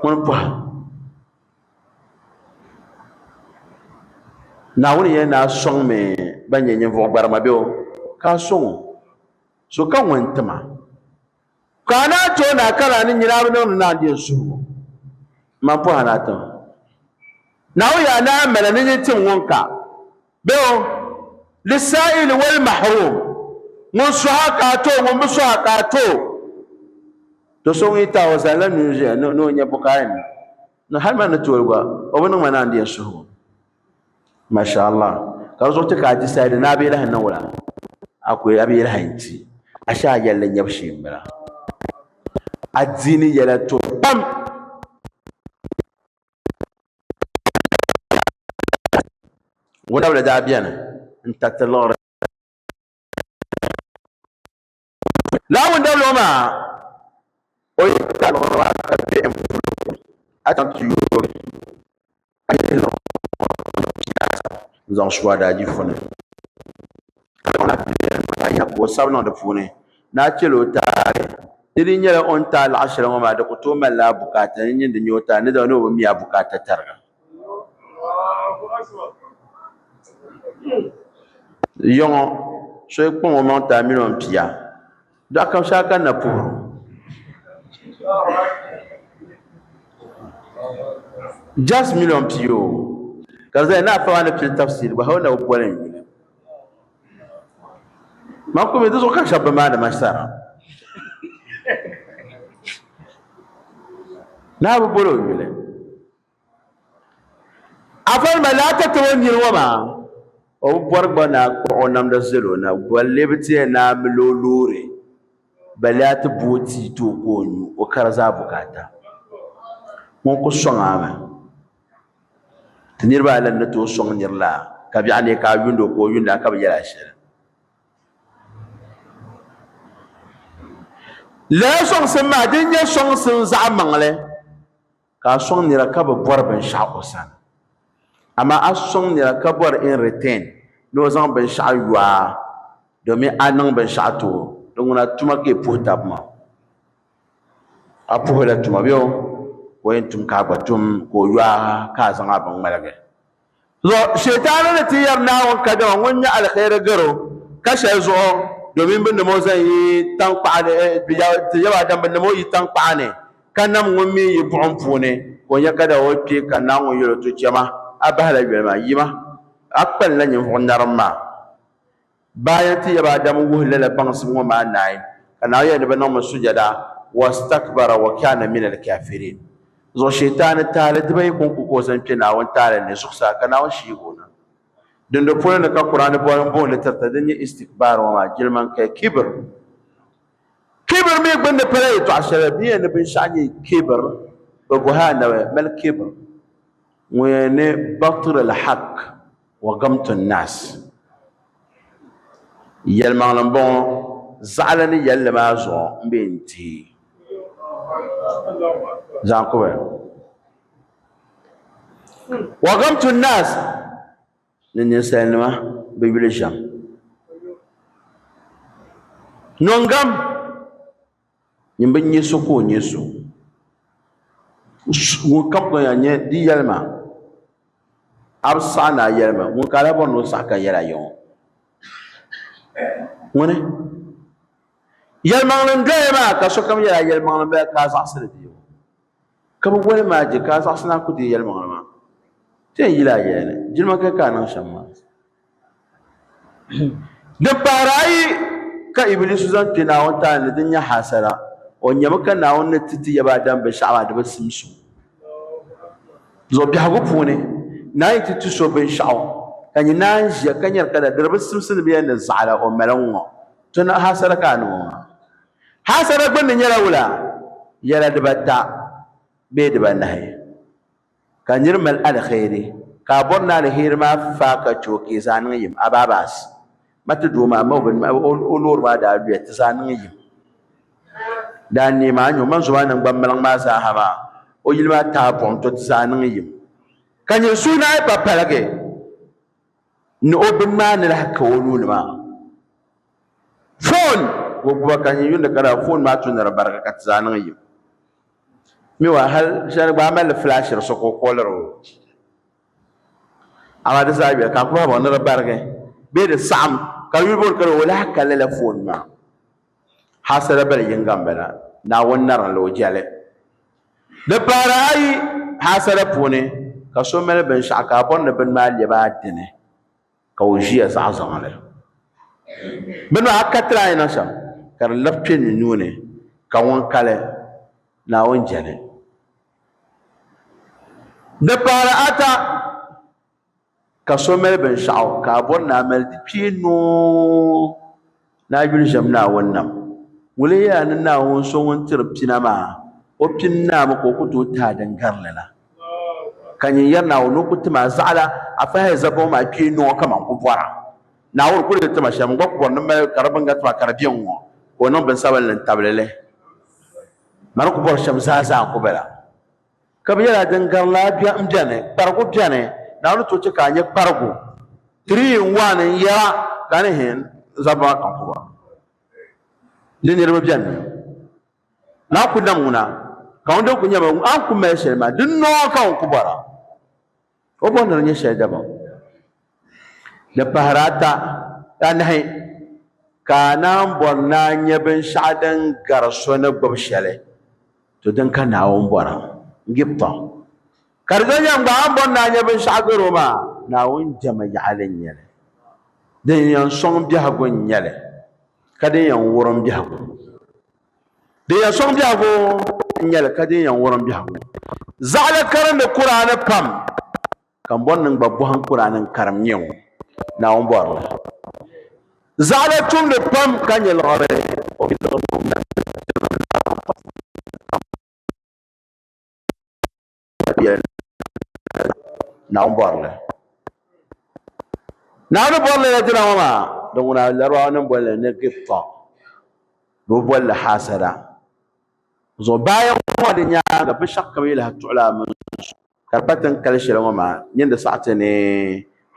ŋuni pɔhim Naawuni yɛn daa sɔŋmi ban nyɛ ninvuɣ gbarima bɛ o, ka a sɔŋ o, so ka ŋun nti ma. Ka a naa ti o naa ka naa ni nyini a bi niŋdi naa n-din suhibu. Mani pɔhina tim. Naawuni yɛn daa mali ni nyin tim ŋun ka. Bɛ o, Lissaa'ili wal Mahrum, ŋun suha ka a ti o, ŋun bi suha ka a ti o. Do so ŋun yi taai o zali la nuu zuya ni o nya bukaaya nima, ni hali ma ni tooi gba, o bi niŋ ma ni a ni di yɛn suhi o. Masha Allah, ka di zuɣu ti ka a decide ni a bi yɛliha niŋ o la, a ku a bi yɛliha n-ti, ashe a yɛlli nyɛbu shee m-bala. Adiini yɛla tuhi pam. Wudabili daa beni n-tariti liɣiri lala wudabili ŋɔ maa o yi taai liɣiri maa ka be m-pu li kuli a chaŋ ti yooi li ka ye liɣiri ŋɔ zaŋ su a daadifu ni. ka di kana ti yɛli ni o yɛn ka o sabi niŋ di puuni ni a chɛli o taali. Di dii nyɛla o ni taai laɣ shɛli ŋɔ maa di ku tooi malila a bukaata ni nyin di nya o taali ni dama ni o bi mi a bukaata tariga. Yiŋɔ, so yi kpaŋ o maŋ ti a mini o ni pia, dɔɣi kam shee a kanna puhir o. Just mini o ni pia o, ka di zaya ni afa maa ni pili tafsir gba hal o na bi boli n yuli. maa kumi di zuɣu ka shɛba bi maani ma sara naa bi boli o yuli afan ma laa ka tabo niri ŋɔ maa o bi bɔri gba naa kpuɣi o namda zali o na bolli bi tiɛ naa mili o loori ba laa ti bo o tii ti o ka o nyu o kari zaa bukaata ŋun ku sɔŋ a mi Ti niriba ayi lan ni tooi sɔŋ nir la, ka biɛɣu neei ka a yuund o ka o yuund a ka bi yɛl a shɛli. Lala sɔŋsim maa din nyɛ sɔŋsim zaɣ maŋli ka a sɔŋ nira ka bi bɔri binshɛɣu o sani. Amaa a sɔŋ nira ka bɔri in return ni o zaŋ binshɛɣu yo a domin a niŋ binshɛɣu ti o, di ŋuna tuma ka yi puhi tab maa. a puhi la tuma bɛ o ka o yɛn tum ka a gba tum ka o yɔa ka a zaŋ a bin ŋmaligi Zo shɛitaana ni ti yɛri Naawuni kadama ŋun nyɛ alihɛiri garo ka shɛli zuɣu domin bɛ nam o zaŋ yi taŋkpaɣu ni eh, bɛ ti yɛba Adam bɛ nam o yi taŋkpaɣu ni ka nam ŋun mi yi buɣim puuni ka o nya kadama o kpi ka Naawuni yɛl o to chɛma a bahi la yoli maa yima a kpalila ninvuɣ narim maa. Baaya ti yaba Adamu wuhi lala baŋsim ŋɔ maa naai, ka Naawuni yɛli ni bɛ niŋmi sujada, wastakbara wa kana minal kafirin. Zuɣu Shɛytaani tahili dibayi ko n-ku ka o zaŋ kpe Naawuni tahili ni zuɣusaa ka Naawuni shihigu o na. Dindoli polo ni ka Kur'aani boli m-booni tirita din nyɛ istikbaar ŋɔ maa, jiliman kaya, kibr. Kibr mi gbunni pala yɛtɔɣ shɛli din yɛn ni binshɛɣu nyɛ kibr, bɛ bɔhi Annabi, mal kibr? Ŋun yɛn ni batrul hak. Welcome to NASS. Yɛlimaŋli n bɔŋɔ zaɣili ni yɛlli maa zuɣu n bɛ n tihi zaŋ kubi Welcome to NASS ni ninsalinima bi yuli shɛm Nongam Ŋun bi nyɛ so ka o nyɛ so. Ŋun kam gba yaa nyɛ di yɛlima a bi saɣi ni a yɛlima ŋun ka daa bɔri ni o saɣi ka yɛli a yiŋɔ ŋuni yɛlimaŋli n doya maa ka sokam yɛli a yɛlimaŋli n bala ka a zaɣisili bɛ yɛ o. Ka bi woli ma je ka a zaɣisina ku deei yɛlimaŋli maa. Ti yɛn yila a yɛli ni, Jilima kaya ka a niŋ shɛm maa. Di pahiri ayi ka Ibilisu zaŋ kpe Naawuni tani ni din nyɛ haasada. O nyami ka Naawuni ni ti ti yaba Adam binshɛɣu maa di bi simsi o. Zuɣu biɛhigu puuni, Naa yi ti ti so binshɛɣu, ka nyɛ ni a ni ʒiya ka nyari ka da di di bi simsi ni bee ni zaɣila o mali ŋ-ŋɔ, tɔna haasada ka a niŋ o maa. Haasada gbunni nyɛla wula yɛla dibata bee dibanahi, ka nir mali aliheri, ka a bɔri ni aliheri maa faai ka chɛ o ka yi zaa niŋ yim. Abaabas! Ma ti doo maa, ma o binima, o loori maa daa luya, ti zaa niŋ yim. Daa neei ma a nyu, ma n zo maa naŋgban maliŋ maa zaaha maa, o yili maa taai buɣim to, ti zaa niŋ yim. Ka nyɛ suhinahi pa paligi. ni o bini maa ni lahi ka o nuu ni maa foon ka o gbuba ka n yundi ka daa foon maa tumdi di barigi ka ti zaa niŋ yim mi wa hali shɛli gba a mali li filaashiri so ka o kɔɔliri o amaa di zaa yuli ka n ku bahi baŋ ni di barigi bee di saɣim ka yuli bɔri ka di o lahi ka lala foon maa Hasada bili yiŋga m-bala, Naawuni narila o jɛli. Di pahiri a yi hasada puuni ka so mali binshɛɣu ka a bɔri ni bini maa lɛbi a dini ka o ʒiya zaɣ zaŋli. Bini maa a katiri a ni na shɛm ka di labi kpe ni nuu ni ka ŋun kali Naawuni jɛli. Di pahiri ata. Ka so mali binshɛɣu ka a bɔri ni a mali di kpee noo ni a yuli ʒiɛm Naawuni nam, wulihiya ni Naawuni so ŋun tiri pina maa, o pini naa mi ka o ku tooi ti a din garili la. Ka nyin yɛri Naawuni ni o ku tim a zaɣila a fahaya zabibu maa kpee noo kaman n ku bɔra. Naawuni kul ni tim a shɛm n gba ku bɔri ni m mali ka di bini gari ti ma ka di be n ŋɔ, ka o niŋ binsabinli n tabili li. Mani ku bɔri shɛm zaa zaa n ku bala. Ka bɛ yɛla din gari laa m-beni, kparigu beni, Naawuni ni tooi chɛ ka a nya kparigu. Three in one n-yɛra ka a ni hin zab maa kam pu ba. Di niriba beni mi. Naa ku nam ŋuna, ka ŋun din ku nyam a ni ku mali shɛli maa, di noo ka ŋun ku bɔra. O bo ni di nyɛ shɛli dabam. Di pahiri ata, anahi, ka a naan bɔri ni a nya binshɛɣu din gari so ni gbubi shɛli, to din ka Naawuni bɔra, Gib tɔɣ. Ka di doliya n-gba, a ni bɔri ni a nya binshɛɣu gari o maa, Naawuni jɛma yaɣili n-nyɛ li. Din yɛn sɔŋ biɛhigu n-nyɛ li, ka din yɛn wurim biɛhigu. Din yɛn sɔŋ biɛhigu n-nyɛ li, ka din yɛn wurim biɛhigu zaɣili karindi Kuraani pam, ka m bɔri ni n gba bɔhim Kuraani n karim nyɛ ŋɔ, Naawuni bɔri li. Zaɣili tumdi pam ka nyɛ liɣiri, o mi liɣiri ŋɔ n-na ti n-ti Naawuni pam. Naawuni bɔrili Naawuni bɔrili la dina ŋɔ maa din ŋuna Larabanim boli li ni gift tɔɣu bɛ bi boli li haasada zuɣu baaya ŋɔ di nyaaŋa binshɛɣu kam yi lahi tuɣila a mini so ka di pa tin kali shɛli ŋɔ maa nyin di saɣi ti ni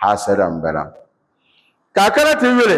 haasada m-bala ka a kana ti yuli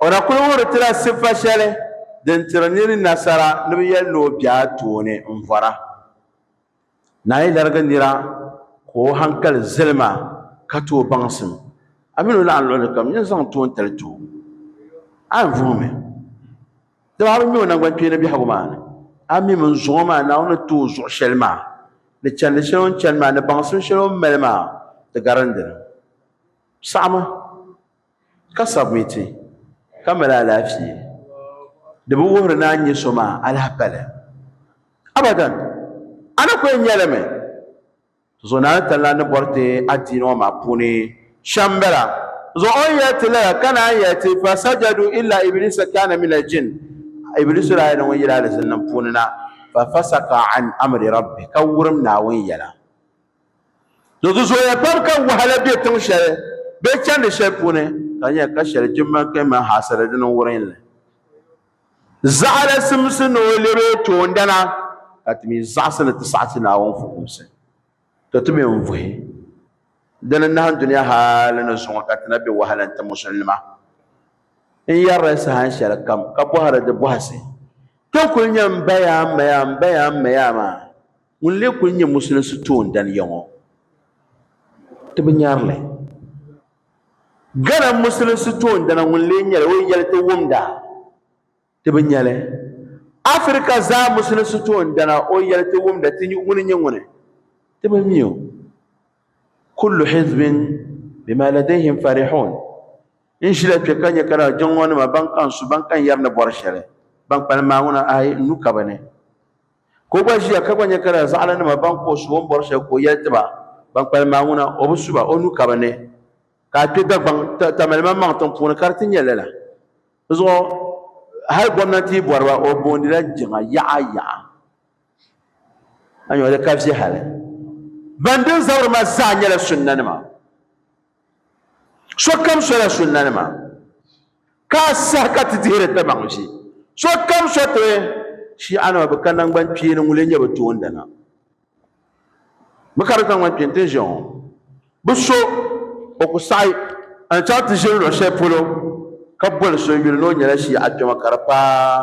O na kul wuhiri ti la sifa shɛli din tiri nir nasara ni bɛ yɛli ni o be a tooni m-vɔra. Naa yi larigi nira ka o haŋkali zali ma ka ti o baŋsim, a min o naɣin luɣili kam, nyin zaŋ toontali ti o. A ni vuhi mi, dama a bi ŋme o naŋgbankpeeni biɛhigu maa ni, a mi min zuŋɔ maa Naawuni ni ti o zuɣu shɛli maa, ni chandi shɛli o ni chani maa, ni baŋsim shɛli o ni mali maa, di garindi ni. Saɣim a! ka sabiti ka mali alaafee di bi wuhiri ni a ni nyɛ so maa alahi pali abadan a ni ku yɛn nya li mi zuɣu naa ni tani lan ni bɔri ti adiini ŋɔ maa puuni shɛm bala zuɣu o ni yɛli ti lala ka naan yɛli ti fasajadu illa iblisa kana min aljin iblisu daa yɛla ŋun yili alizinnim puuni na fafasaka an amri rabbi ka wurim naawuni yɛla Di zooya pam ka wahala be tiŋ shɛli bee chandi shɛli puuni ka nya ka shɛli jimma kpe m-mali haasira di niŋ wurin li. Zaɣila simsi ni o lɛb o toondana, ka ti mi zaɣisi ni ti saɣi ti Naawuni fukumsi. To ti mi n-vuhi di ni nahin dunia haali ni zuŋɔ ka ti na be wahala n-ti Musulinima. N yɛri li saha shɛlikam ka bɔhiri di bɔhisi, Ti kul nya m-bayaa m-mayaa m-bayaa m-mayaa maa? Ŋun lee kuli nyɛ musulinsi toondani ya ŋɔ, ti bi nyari li. Ghana musulinsi toondana ŋun lee nyɛla o yɛli ti wumda, ti bi nya li. Afirika zaa musulinsi toondana o yɛli ti wumda, ti nya ŋuni nyɛ ŋuni, ti bi mi o. Kullu hizbin bima ladayhim farihun, N ʒila kpe ka nya ka daa jiŋlɔnima ban kaŋ su, ban kaŋ yɛri ni bɔri shɛli, ban kpalim maa ŋuna, ayi, n nu ka bɛ ni. Ka o gba ʒiya ka gba nya ka lala zaɣilanima ban ka o suhi o ni bɔri shɛli ka o yɛli ti ba, Ban kpalim maa ŋuna, o bi su ba, o nuu ka bɛ ni, ka a kpe Dagbaŋ tamalimaŋmaŋ tiŋ puuni ka di ti nya lala. Di zuɣu hal gomnanti yi bɔri ba, o boondi la jiŋa yaɣa yaɣa. A nya o di ka viɛhili. Ban din zabiri ma zaa nyɛla sunna nima. Sokam sola sunnanima, ka a saha ka ti dihiri tabaɣiʒi. Sokam so ti Shiianima bɛ ka naŋgbankpeeni ŋun lee nyɛ bɛ toondana. Bɛ ka di naŋgbankpeeni ti ni ʒe ŋɔ. Bɛ so o ku saɣi a ni chaŋ ti ʒini luɣ shɛli polo ka boli so yuli ni o nyɛla Shiiakpɛma ka di paai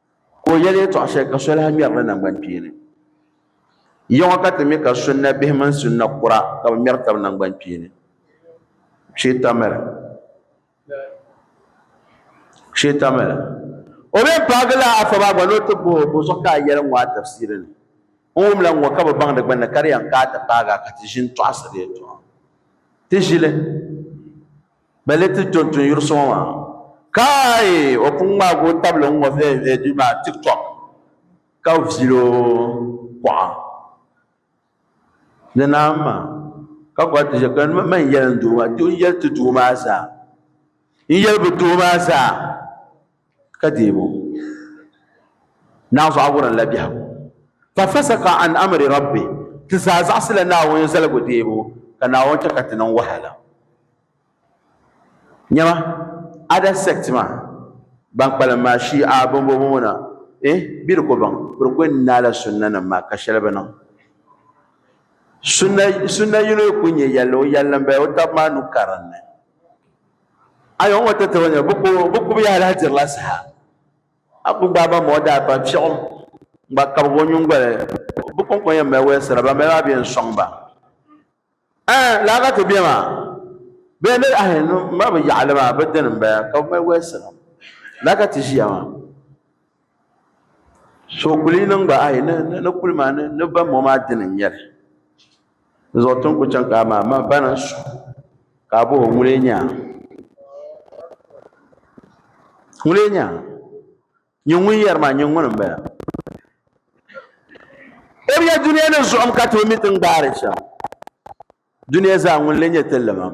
ka o yɛli yɛtɔɣ shɛli ka so lahi ŋmɛri li naŋgbankpeeni ya ŋɔ ka ti mi ka sunna bihi mini sunna kura ka bi ŋmɛri tabi naŋgbankpeeni sheetamili sheetamili o mi paagila afa maa gba ni o ti bohi bo zuɣu ka a yɛli ŋɔ a tafsiri ni n wumla ŋɔ ka bi baŋdi gbunni ka di yɛn ka a ti paagi a ka ti ʒini tɔɣisiri yɛtɔɣa ti ʒili Bɛ ni ti to n-tun yuri so ŋɔ maa. Kaai! O pun ŋmaagi o tabili n-ŋɔ viɛviɛ duu maa tiktok ka viil o kuɣa. Di naai ma ka gɔri ti ʒiya ka yɛli, Mani n-yɛli n doo maa, n yɛli ti doo maa zaa. N yɛli bi doo maa zaa. ka deeg o naanzuɣa wurin la biɛhigu fa fasaka an amri rabbi ti zaa zaɣisila Naawuni zaligu deebu ka Naawuni chɛ ka ti niŋ wahala nyɛma ada sect maa ban kpalim maa shi'a bombombo ŋuna eh bɛ di ko baŋ bɛ di ko n naai la sunna nim maa ka shɛli bi niŋ sunna yino ku nyɛ yɛlli o yɛlli n bala o tab maa nu karinli ayo ŋɔ ti tibini bi ku bi ku biya lahi dirila saha a ku gbaai ba mɔɔ daa ban fiɛɣu n gba kabigi o nyingoli bi kɔŋko yɛn mali wɛlisira ban mali maa bɛ yɛn sɔŋ ba ɛɛ laa ka ti bɛ maa bɛ yɛn dali ahi ma bi yaɣali maa bi dini n bala ka bi mali wɛlisira laa ka ti ʒiya maa so kuli niŋ gba ayi ni ni ni kuli maa ni ni ba mɔ maa dini n nyɛli di zuɣu tin kuli chaŋ ka a maa ma ba ni n su ka a boho ŋun lee nya ŋun lee nya nyɛ ŋun yɛri maa nyɛ ŋuni n bala o bi yɛ duniya ni zuɣum ka ti o mi ti n gbaari shɛm duniya zaa ŋun lee nyɛ ti limam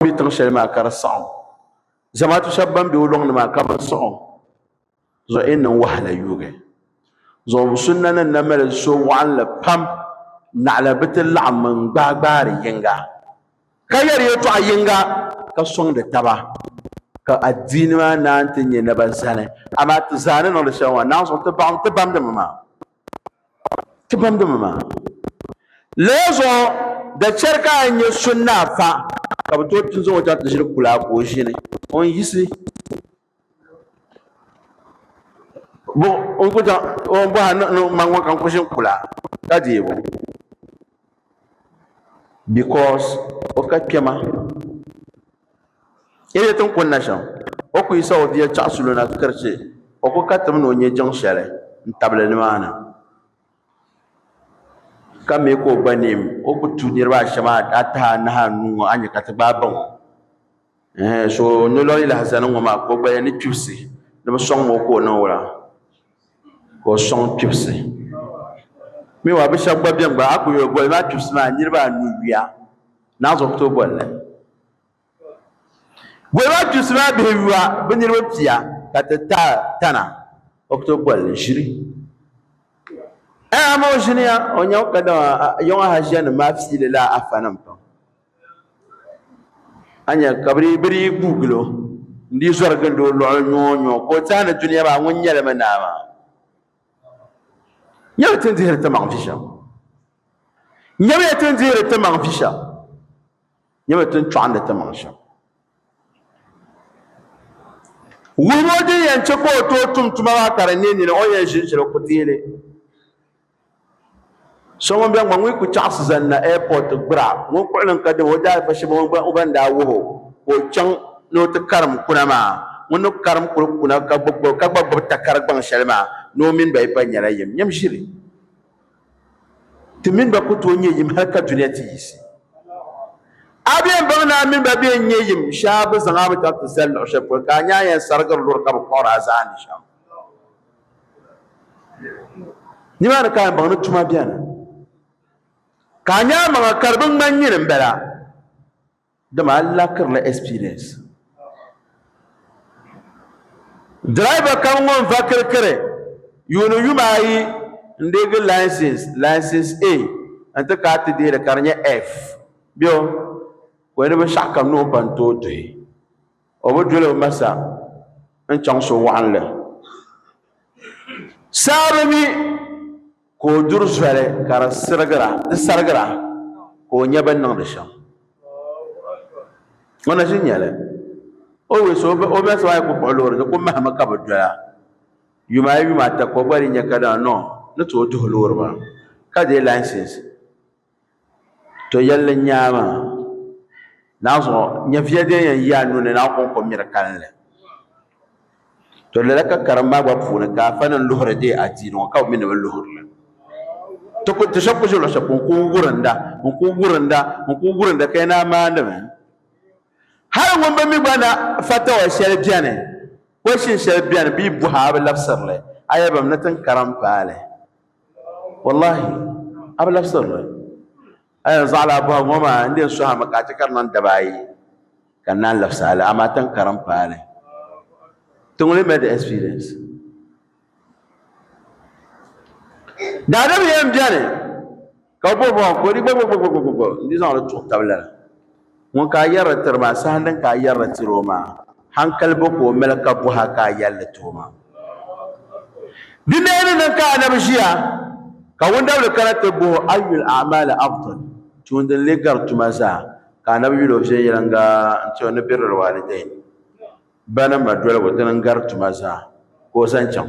bɛ tiŋ shɛli maa ka di saɣam zamaatu shab ban bɛ o loŋni maa ka bi siɣi zuɣu e niŋ wahala yuugi zuɣu sunna nim na mali so waɣanli pam naɣala bi ti laɣam n gbaai gbaari yinga ka yɛri yɛltɔɣa yinga ka soŋdi taba ka adiini maa naan ti nyɛ naba zani amaa ti zaa ni niŋdi shɛli maa naan zuɣu ti baɣam ti bamdimi maa ti binduma maa. Lala zuɣu da chɛri ka a nya so ni a fa ka bɛ tooi ti zaŋ o chaŋ ti ʒiri kula ka o ʒini o ni yiɣisi bɔ o ni ku chaŋ o ni bɔhi a ni o ni ma ŋɔ ka n ku ʒini kula ka deei o. because o ka kpɛma yɛli tin kun na shɛm o ku yi sa o bia chaɣa sulo na ti kari chɛ o ku ka tim ni o nyɛ jiŋ shɛli n tabili nimaani ka mii ka o gba neem o ku tu niraba ashɛm ataha anahi anuu ŋɔ a ni nyɛ ka ti gbaai baŋ o Ɛhɛn, so ni lɔri lahazani ŋɔ maa ka o gbaya ni kpibisi ni bi sɔŋ ma o ka o niŋ wula ka o sɔŋ kpibisi mi wa bi shɛba gba bɛni gba a ku yuli boli maa kpibisi maa niriba anu yuya ni a zuɣu ku tooi boli li boli maa kpibisi maa bihi yuya bi niriba pia ka ti ta tana o ku tooi boli li ʒili ɛhɛn amaa o ʒiniya o nyɛm kadama yiŋa ha ʒiya nim maa fiili la afa nim pam. a nya ka bɛ dii bɛ dii guui gili o n dii zɔri gindi o luɣuli nyoo nyoo ka o teei ni dunia maa ŋun nyɛli mi naa maa nyɛmi ti ni dihiri ti maŋ vi shɛm nyɛmiya ti ni dihiri ti maŋ vi shɛm nyɛmi ti ni chɔɣindi ti maŋ shɛm wuhibu din yɛn chɛ ka o tooi tum tuma maa ka di ne nini o yɛn ʒinʒiri ku teeli So ŋun bɛ ŋɔ ŋun ku chaɣisi zani na airport gbira ŋun kuɣili n ka dini o daalifa shɛba o ban daa wuhi o ka o chaŋ ni o ti karim kuna maa ŋun ni karim kuli kuna ka gba gbubi takari gbaŋ shɛli maa ni o mini ba yi pa nyɛla yim nyam ʒili ti mini ba ku tooi nyɛ yim hali ka dunia ti yiɣisi a bɛn baŋ ni a mini ba bɛn nyɛ yim shɛba bi zaŋ a mi chaŋ ti zali luɣi shɛli polo ka a nya a yɛn sarigiri luri ka bi kpuɣiri a zaani shɛm. Nimaani ka yɛnbaŋ ni tuma beni, ka a nya amaŋa ka di bi ŋmani nyini m-bala, dama a lakirila experience. Driver kam ŋɔ n-va kirikiri yuuni yuma ayi n-deegi license, license A n-ti kaai ti deeri ka di nyɛ F. Bɛ o, ka o ni binshɛɣu kam ni o ba n-tooi duhi. o bi doli o masa n chaŋ so waɣinli saa bi mi ka o duri zoli ka di sirigira di sarigira ka o nya bin niŋdi shɛm o na ʒi nyɛli o wis o o masa maa ku kpuɣi loori ni ku mahimi ka bi doya yuma ayi yuma ata ka o gba di nya ka daa nɔ ni tooi duhi loori maa ka dee laisins To yɛlli n nyaa maa, naanzuɣu nyɛviya din yɛn yi a nuni ni a kɔŋ ko miri kalinli. To lala ka karim maa gba puuni ka afanim luhiri deei adiini ŋɔ ka bɛ mi ni bɛ luhiri li. Ti ku ti shɛb ku ʒi luɣushɛli polo n kuli wurinda n kuli wurinda n kuli wurinda ka yi naa maandi mi. Hali ŋun bi mi gba na fatawa shɛli beni, question shɛli beni bee buhi a bi labisiri li a yɛli ba mi ni tin karim paali. Wallahi a bi labisirili a yɛn zaɣila a bɔhigu ŋɔ maa n-di yɛn suhimi ka a chɛ ka di niŋ daba ayi ka n naan labisi a li amaa tiŋ kara m-paai li ti ŋuni mi di experience daadam yɛn beni Ka o bɔri ba ka o di gbagbagbagbagba n-di zaŋ li tuɣi tab lana. Ŋun ka a yɛrila tiri maa, saha din ka a yɛrila tiri o maa, hankali bo ka o mali ka bɔh a ka a yɛli li ti o maa? Di daa ni niŋ ka anabi ʒiya, ka wundabili kana ti bɔh o, Ayyul a'maali afdal? Tuun din lee gari tuma zaa? Ka anabi yuli o viɛnyɛliŋga n-ti o ni birril waalidain, ba ni ma dolibu, dini n-gari tuma zaa, ka o zaŋ chaŋ.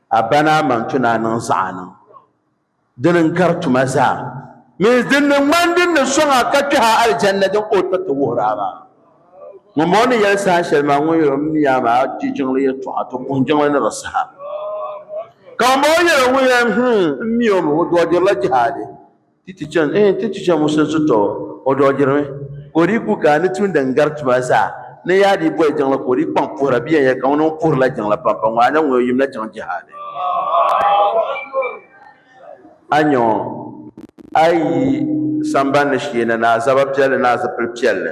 A ba ni a ma n-tu ni a niŋ zaɣa niŋ din n-gari tuma zaa mini din ni ŋmani din ni sɔŋ a ka kpɛh a alijanna din ka o tiriti wuhir a maa. Ŋumbɔŋɔ ni yɛli saha shɛli maa ŋun yɛl o mini yaa maa je jiŋli yɛltɔɣa ti kuhi jiŋli ni di saha. Ka ŋumbɔŋɔ yɛl o ŋun yɛl, Him, m mi o mi, o dɔɔdirila jihadi. Ti ti chani, eeh, ti ti chani Musa zuto, o dɔɣirimi ka o dii ku ka ni tumdi n gari tuma zaa. Ni yaa dii boli jiŋli ka o dii kpaŋ puhira bee n-yɛli ka ŋuni ŋun puhirila jiŋli pam pam ŋɔ a nya ŋun o yim na chaŋ jihaadi? A nya o, a yi yi sambani ni shee na ni a zaba piɛlli ni a zipil piɛlli.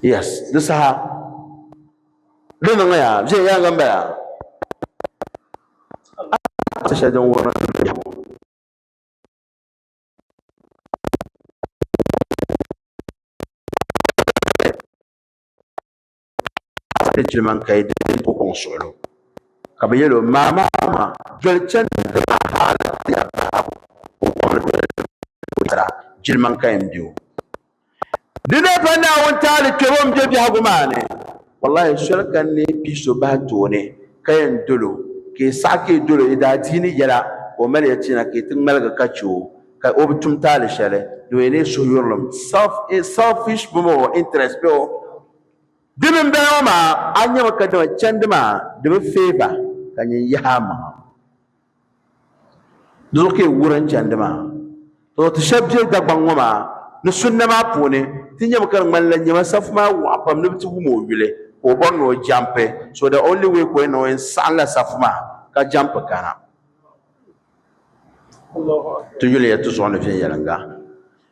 yes di saha di niŋya viɛnyɛliŋga n bala ti shɛli din wurim ni jilima n kai di ko kɔŋ suɣulo ka bi yɛli o maa maa maa doli chɛni jilima n kai n bɛ o Di daa pa Naawuni taali kpɛbo m-be biɛhigu maa ni. Wallahi soli ka n ni pii so bahi tooni ka yɛn dol o, ka yi saɣi ka yi dol o yi daa di yi ni yɛla ka o mali ya ti na ka yi ti ŋmaligi ka chɛ o ka o bi tum taali shɛli din yɛn neei suhuyurilim, selfish bɔŋɔ o, interest bɛ o. Di mini bɛla ŋɔ maa, a nyami kadama chandi maa di bi favour ka nyin yahi a maŋa. Dolo ka yi wurin chandi maa. To ti shɛb be Dagbaŋ ŋɔ maa ni sunna maa puuni ti nyami ka di ŋmanila nyama safu maa waɣa pam ni bɛ ti wum o yuli ka o bɔri ni o jampi so the only way ka o yɛn niŋ o yɛn saɣimla safu maa ka jampi kana ti yuli ya ti zuɣu ni viɛnyɛliŋga.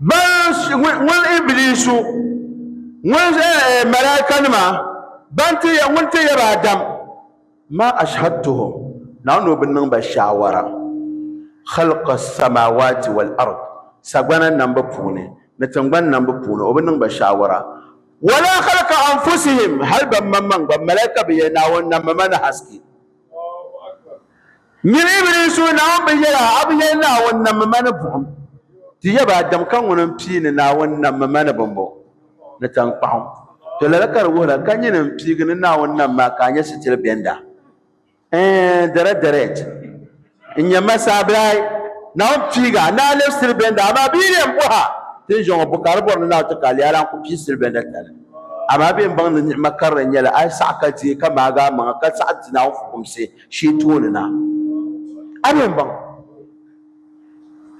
Ŋun Ibiliisu ŋun malaa'ikanima ban ti ya ŋun ti yaba Adam ma ashhadtuhum Naawuni o bi niŋ ba shaawara khalqa samaawaati wal ard sagbana nambu puuni ni tingbani nambu puuni o bi niŋ ba shaawara wala khalqa anfusihim hali bɛ maŋmaŋ gba malaa'ika bi ya Naawuni na mama ni haske Nyini Ibiliis o Naawuni bi yɛl a, a bi yɛli Naawuni nammi ma ni buɣim. Ti yab a dam ka ŋuni m-pii ni Naawuni nammi ma ni bimbo, ni taŋkpaɣu. Tɔ lala ka di wuhira, ka nyini m-piigi ni Naawuni nam ma ka a nya sitiri bɛnda. Ɛɛn, dara dɛrɛt! N nya ma sabilahi, Naawuni piig a, ni a lɛb sitiri bɛnda, amaa bɛ yi lɛm bɔh a tinzɔŋɔ buka di bɔri ni Naawuni ti ka a leei a la n-ku pii sitiri bɛnda tali. Amaa bɛ ni baŋ ni ni'ima karili n-nyɛ li, a yi saɣi ka di yi ka maagi a maŋa, ka saɣi di Naawuni fukumsi, shee tooni na. A ni yɛn baŋ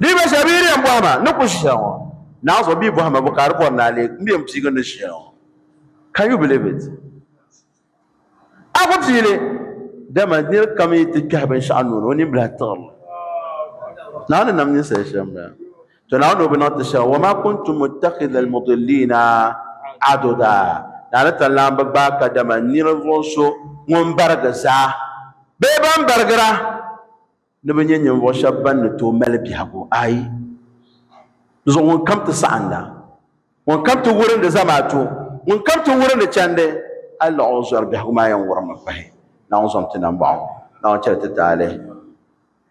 niriba shɛba bɛ yi di yɛn bɔhima ni ku ʒiya ŋɔ naa zuɣu bee bɔhima bu ka di bɔri ni a leei m bɛ yɛn piigi ni ʒiya ŋɔ. Can you believe it? A ku pii li dama niri kam yi ti kpɛhi binshɛɣu nuu ni o nini bilahi tiɣiri li. Naa ni nam ninsali shɛm bala. To Naawuni o bi niŋ ti shɛba, wa ma kuntu muttakhidha al-mudillina aduda. Naawuni tanlan bi gbaai kadama ninvuɣ so ŋun barigi zaa bee ban barigira ni bi nyɛ ninvuɣ shɛba ban ni tooi mali biɛhigu. Ayi! Dinzuɣu ŋun kam ti saɣinda, ŋun kam ti wurindi zamaatu, ŋun kam ti wurindi chandi, a laɣ o zɔri biɛhigu maa yɛn wurimmi pahi Naawuni zom ti nambɔɣu. Naawuni chɛli ti taali.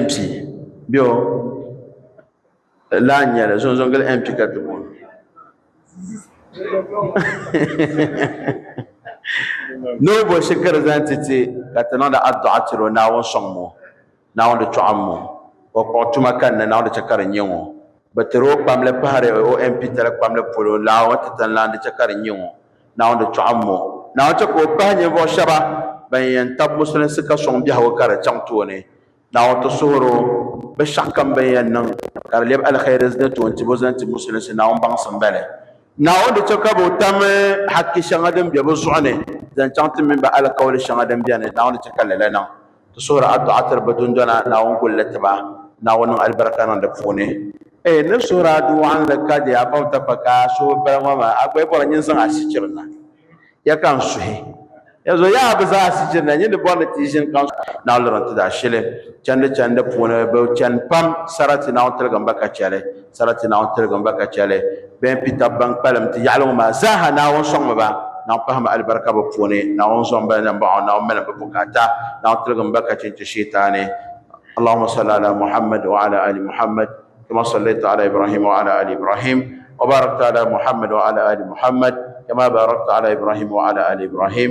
MP bɛ o lahi nyɛli zonzongili MP ka ti booni ni o bo shikuru zaŋ ti ti ka ti niŋdi adduɣa tiri o Naawuni sɔŋ ŋɔ Naawuni di tɔɣim ŋɔ o kpuɣi tuma kanna Naawuni di chɛ ka di nyɛ ŋɔ bi tiri o kpamli pahiri o MP tali kpamli polo Naawuni ti tanlan di chɛ ka di nyɛ ŋɔ Naawuni chɔɣim mo, Naawuni chɛ ka o bahi ninvuɣu shɛba ban yɛn tab musulinsi ka sɔŋ biɛhigu ka di chaŋ tooni. Naawuni ti suhir o bɛ shɛɣukam bɛn yɛn niŋ ka di lɛbi alihɛri ni toontibu zaŋ ti musulinsi Naawuni baŋsim bɛli. Naawuni di chɛ ka bɛ tam haki shɛŋa din be bɛ zuɣu ni zaŋ chaŋ ti mini bɛ alikauli shɛŋa din beni. Naawuni di chɛ ka lala niŋ Ti suhiri adduɣa tiri bɛ dundɔna, Naawuni gul li ti ba, Naawuni niŋ alibarika niŋ di puuni. Ee nir suhiri adu wɔɣinli ka di a pam takpa ka a suhu bala ŋɔ maa, a gba yi bɔri ni n zaŋ a sichiri na, ya ka n suhi. Yanzu yaa bi zaŋ a sichiri na, nyin di bɔri ni ti yi ʒini ka n suhi. Naawuni liri n ti daa shili chandi chandi puuni, bɛ chani pam sarati Naawuni tiligimba ka chɛ li. Sarati Naawuni tiligim ba ka chɛli bɛ ni kpi tab ban kpalim ti yaɣili ŋɔ maa zaaha. Naawuni sɔŋmi ba, Naawuni pahimi alibarika bɛ puuni, Naawuni zom ba ni baɣa o, Naawuni malim bɛ bukaata, Naawuni tiligim ba ka chinchi Shɛitaani. Allahumma salli ala Muhammad wa ala ali Muhammad kama sallaita ala Ibrahim wa ala ali Ibrahim wa barakta ala Muhammad wa ala ali Muhammad kama barakta ala Ibrahim wa ala ali Ibrahim